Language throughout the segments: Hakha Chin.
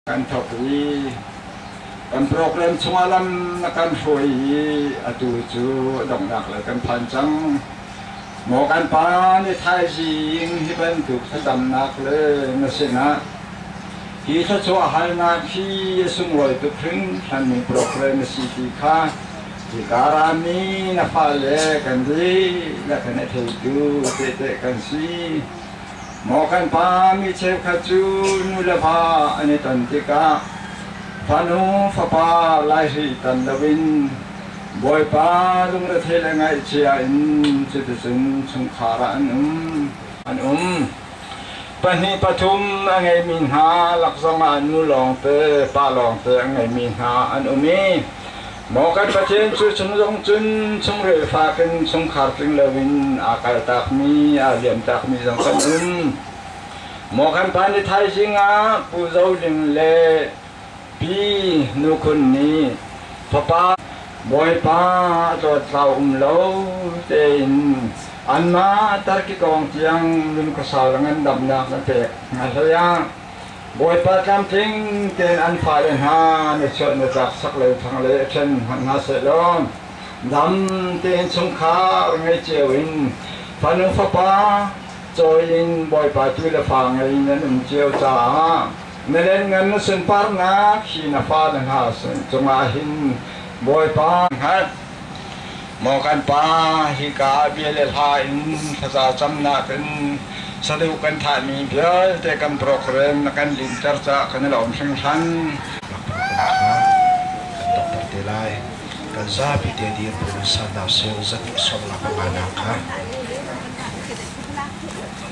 kan thawk i kan program chungah lam na kan hruai i atu cu donghnak lei kan phan cang maw kan pa nih thaizing hi bantuk thlacamnak le na sinah hi thluachuahhalnak hi a sunglawi tuk hringhran ning program na si ti kha hika rami na fale kan lih na kan i theitu tehte kan si Maw kan pa mi cheukhat cu nu le pa an i ton tikah fanu fapa laihri tan loin Bawipa lungrethei le ngaihchia in cuticun chungkhar ah an um. An um. Pahnih pathum a ngeimi hna lak zongah nu lawngte, pa lawngte a ngeimi hna an um i Maw kan Pathian cu chung zong cun chungril fak in chungkhar tling loin aa kaltakmi, aa liamtakmi zong kan um. Maw kan pa nih thaizing ah Pu Zo Ling le Pi Nu Khun nih fapa Bawipa a tlawt hlau um lo tein anmah Turkey kong tiang lungkosal ngandamnak na pek hna hlei ah Bawipa tlamtling tein an fale hna na chuat na tlak sak le thang le ṭhen hmanh hna seh law dam tein chungkhar ngei cio in fanu fapa cawi in Bawipa tu le fa ngei in an um cio caah na len ngan na sunparnak hi na fa na hna cungah hin Bawipa hngat Maw kan pa, hika bia le hla in thlaza cam nakin sadeuh kan thahmi vialte kan program na kan linter cah kan i lawm hringhran. Ngaknu kan ṭha, kan donghter te lai. Kan zapi te dir buin sannak sir zat i sawmnak a ngannak kha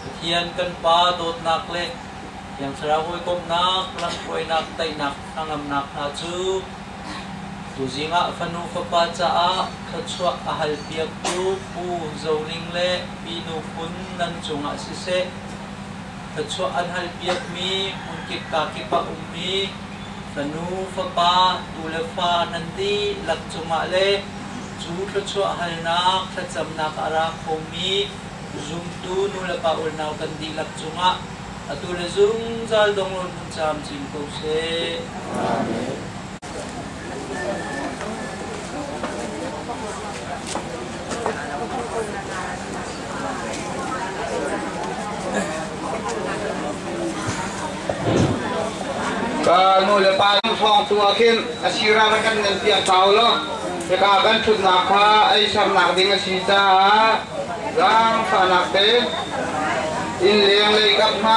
Pathian kan Pa dawtnak le Thiang Thlarau hawikomhnak, lamhruainak, teinak, hnangamnak hna cu tuzing ah fanu fapa caah thluachuah a halpiaktu Pu Zoning le Minu Phun nan cungah siseh, thluachuah an halpiakmi hmunkip kakip a ummi fanu fapa tu le fa nan dihlak cungah le cu thluachuah halnak thlacamnak a ra khomi Zumtu nulepa unau kan dihlak cungah atu le zungzal donglawn vun camcin ko seh. Amen. Nu le pa thawng tu ah khin a sira rak kan nan piah hau lo. Hika kan ṭhutnak kha ei sernak ding a si caah zaangfahnak te inn leng lei kap hna.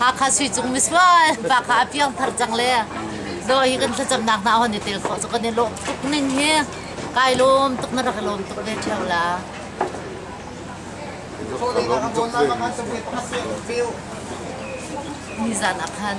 Hakha Suicung misual pa kha a piangthar cang le daw hi kan thlacamnak hna hon i tel khawh cu kan i lawm tuk ning hi kai lawm tuk na rak i lawm tuk ve theo la ni zan ah khan